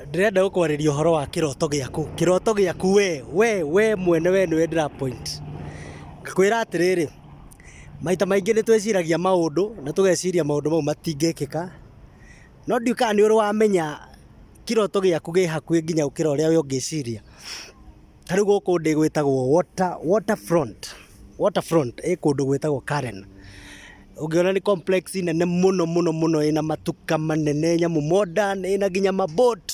Ndĩrenda gũkwarĩria ũhoro wa kĩroto gĩaku. Kĩroto gĩaku we, we, we mwene we nĩwe ndĩra point. Ngakwĩra atĩrĩrĩ, maita maingĩ nĩ twĩciragia maũndũ na tũgeciria maũndũ mau matingĩkĩka, no ndiũĩ kana nĩ ũrĩ wamenya kĩroto gĩaku gĩ hakuhĩ nginya gũkĩra ũrĩa we ũngĩciria. Ta rĩu gũkũ ndĩ gwĩtagwo water, water front, water front ĩ kũndũ gwĩtagwo Karen. Ũngĩona nĩ complex nene mũno mũno mũno ĩna matuka manene, nyamũ modern, ĩna nginya ma boat.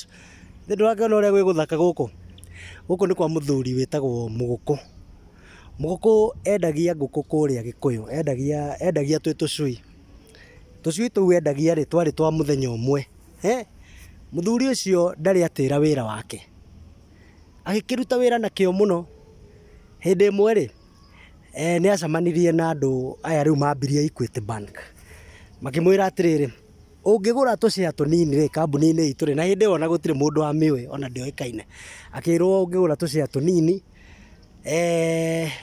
Githĩ ndũrakĩona ũrĩa gwĩ gũthaka gũkũ? Gũkũ nĩ kwa mũthuri wĩtagwo Mũgũkũ. Mũgũkũ endagia ngũkũ kũrĩa Gĩkũyũ, endagia, endagia twĩ tũcui. Tũcui tũu endagia rĩ, twarĩ twa mũthenya ũmwe. Mũthuri ũcio ndarĩ atĩra wĩra wake. agĩkĩruta wĩra na kĩo mũno, hĩndĩ ĩmwe rĩ, nĩ acemanirie na andũ aya rĩu mambirie Equity Bank, makĩmwĩra atĩrĩrĩ, ũngĩgũra tũ share tũnini rĩ, kambuni-inĩ itũ rĩ, na hĩndĩ ĩyo ona gũtirĩ mũndũ wamĩũĩ ona ndĩoĩkaine, akĩrwo ũngĩgũra tũ share tũnini,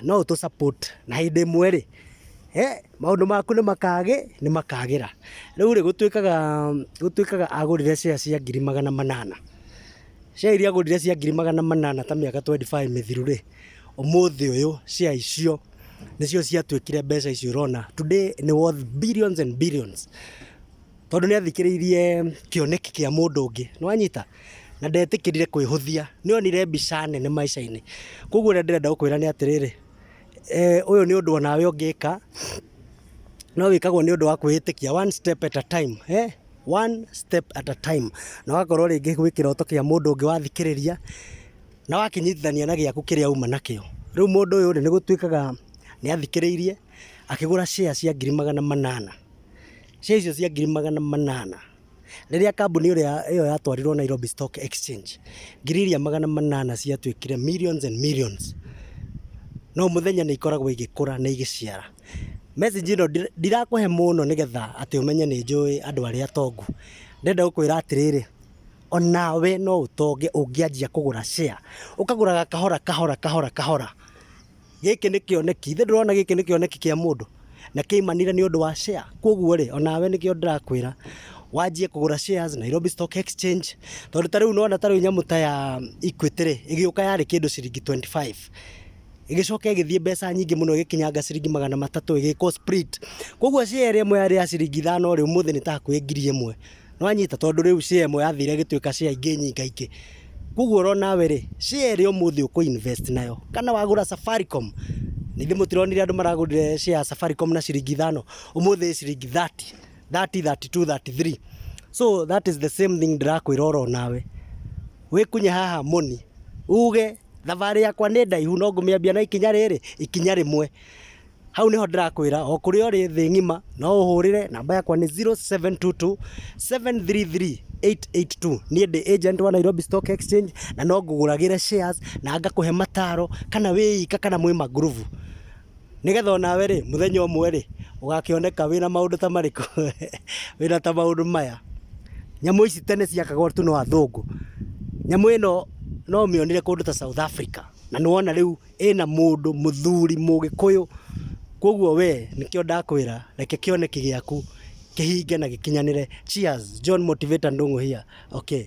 no ũtũ support na hĩndĩ ĩmwe rĩ, maũndũ maku nĩ makagĩra. Rĩu rĩ, gũtuĩkaga agũrire share cia ngiri magana manana. Share iria ngũrire cia ngiri magana manana ta mĩaka twendi baĩ mĩthiru rĩ, ũmũthĩ ũyũ share icio nĩcio ciatuĩkire mbeca icio ũrona. Today nĩ worth billions and billions tondũ nĩ athikĩrĩirie kĩoneki kĩa mũndũ ũngĩ. Nĩ wanyita? Na ndetĩkĩrire kwĩhũthia. Nĩ onire mbica nene maica-inĩ. Kwoguo ũrĩa ndĩrenda gũkwĩra nĩ atĩrĩrĩ, ũyũ nĩ ũndũ o nawe ũngĩka, no wĩkagwo nĩ ũndũ wa kwĩĩtĩkia, one step at a time. one step at a time na ũgakorwo rĩngĩ gwĩ kĩroto kĩa mũndũ ũngĩ wathikĩrĩria na wakĩnyitithania na gĩaku kĩrĩa uma nakĩo. Rĩu mũndũ ũyũ rĩ, nĩ gũtuĩkaga nĩ athikĩrĩirie akĩgũra share cia ngiri magana manana. Share icio cia ngiri magana manana, rĩrĩa kambuni ĩrĩa ĩyo yatwarirwo Nairobi Stock Exchange, ngiri iria magana manana ciatuĩkire millions and millions. Na o mũthenya nĩ ikoragwo igĩkũra na igĩciara. Message ĩno ndirakũhe mũno nĩgetha atĩ ũmenye nĩ njũĩ andũ arĩa atongu. Ndĩrenda gũkwĩra atĩrĩrĩ, o nawe no ũtonge ũngĩanjia kũgũra share. Ũkagũraga kahora kahora kahora kahora. Gĩkĩ nĩ kĩoneki, ithe ndũrona gĩkĩ nĩ kĩoneki kĩa mũndũ? Na kĩaimanire nĩ ũndũ wa share. Kwoguo rĩ, o nawe nĩkĩo ndĩrakwĩra, wanjie kũgũra shares Nairobi Stock Exchange, tondũ ta rĩu nĩ wona ta rĩu nyamũ ta ya Equity rĩ, ĩgĩũka yarĩ kĩndũ ciringi twenty five, ĩgĩcoka ĩgĩthiĩ mbeca nyingĩ mũno ĩgĩkinyanga ciringi magana matatũ ĩgĩkwo split. Kũguo share ĩrĩa ĩmwe yarĩ ya ciringi ithano rĩ, ũmũthĩ nĩ ta hakuhĩ ngiri ĩmwe. Nĩ wanyita? Tondũ rĩu share ĩmwe yathire ĩgĩtuĩka share ingĩ nyingaingĩ. Kũguo oro nawe rĩ, share ĩrĩa ũmũthĩ ũkũ invest nayo, kana wagũra Safaricom, githĩ mũtironire andũ maragũrire share ya Safaricom na ciringi ithano? Ũmũthĩ ĩ ciringi thirty, thirty, thirty two, thirty three. So that is the same thing ndĩrakwĩra oro nawe. Wĩkunye haha moni, uge... Thabarĩ yakwa nĩ ndaihu no ngũmĩambia na ikinya rĩrĩ, ikinya rĩmwe. Hau nĩho ndĩrakwĩra o kũrĩa ũrĩ thĩ ng'ima no ũhũrĩre, namba yakwa nĩ zero, seven, two, two, seven, three, three, eight, eight, two. Niĩ ndĩ agent wa Nairobi Stock Exchange na no ngũgũragĩre shares na ngakũhe mataro kana wĩ ika kana mwĩ mangurubu. Nĩgetha o nawe rĩ, mũthenya ũmwe rĩ, ũgakĩoneka wĩna maũndũ ta marĩkũ? Wĩna ta maũndũ maya, nyamũ ici tene ciakagwo tu no athũngũ. Nyamũ ĩno no ũmĩonire kũndũ ta South Africa, na nĩ wona rĩu ĩna mũndũ mũthuri mũgĩkũyũ, kũguo we nĩkĩo ndakwĩra reke kĩoneki gĩaku kĩhinge na gĩkinyanĩre. Cheers, John Motivator Ndung'u here, okay.